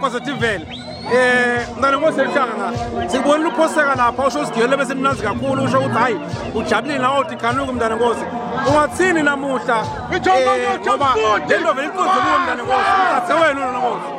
positivele eh ngane ngosehlanga sikubona uphoseka lapha usho usigiyele bese mnazi kakhulu usho ukuthi hayi ujabulile nawo uthi khanuku mntana nkosi ungathini namuhla eh, ngoba lento vele iqoze kuyo mntana nkosi uthathe wena nonkosi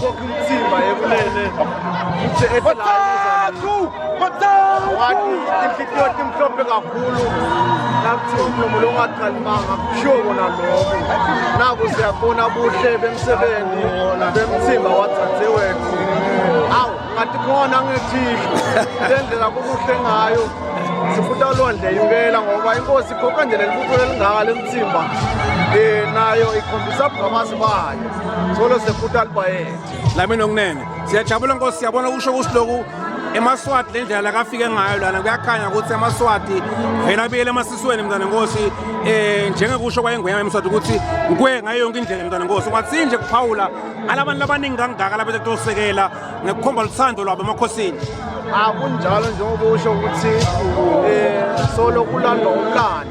Khokha umthimba ekulele. Uthe ethi la Bathathu! Bathathu! Wathi inhliziyo yakhe imhlophe kakhulu. Nakuthi umlomo lo ungaqalimanga kushiwo kona lokho. Naku siyabona buhle bemsebenzi bemthimba wathathe wethu. Awu ngathi khona ngethihlo. Lendlela kukuhle ngayo. Sifuta olwandle impela ngoba inkosi ikhokha nje lelibutho elingaka lemthimba. Eh nayo ikhombisa ubungamazi bayo. Solo sekhuta albayet. Lami nokunene. Siyajabula Nkosi siyabona kusho ukuthi lokhu emaswati le ndlela lakafike ngayo lana kuyakhanya ukuthi amaswati vele abiyele emasisweni mntwana nkosi um eh, njengekusho kwayengwenyama emswati ukuthi ngikwe ngayo yonke indlela mntwana nkosi kwathi nje kuphawula alabantu abaningi kangaka labethe kutosekela ngekukhomba luthando lwabo emakhosini akunjalo njengoba usho ukuthi um solo kulandwa umlando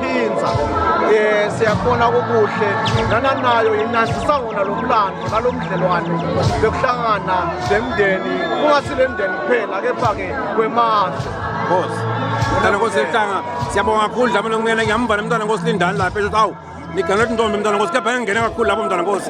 phinza um siyakubona kukuhle nana nayo inandisa wona lo mlando nalo mdlelwane bekuhlangana le mndeni kungasi le mndeni kuphela kepha-ke kwemazwe nkosi mntana nkosi ehlanga siyabonga kakhulu dlama lokungena ngiyamva nomntana nkosi lindani lapha esho ukuthi awu nigane ukuthi ntombi mntana nkosi kepha engingene kakhulu lapho mntana nkosi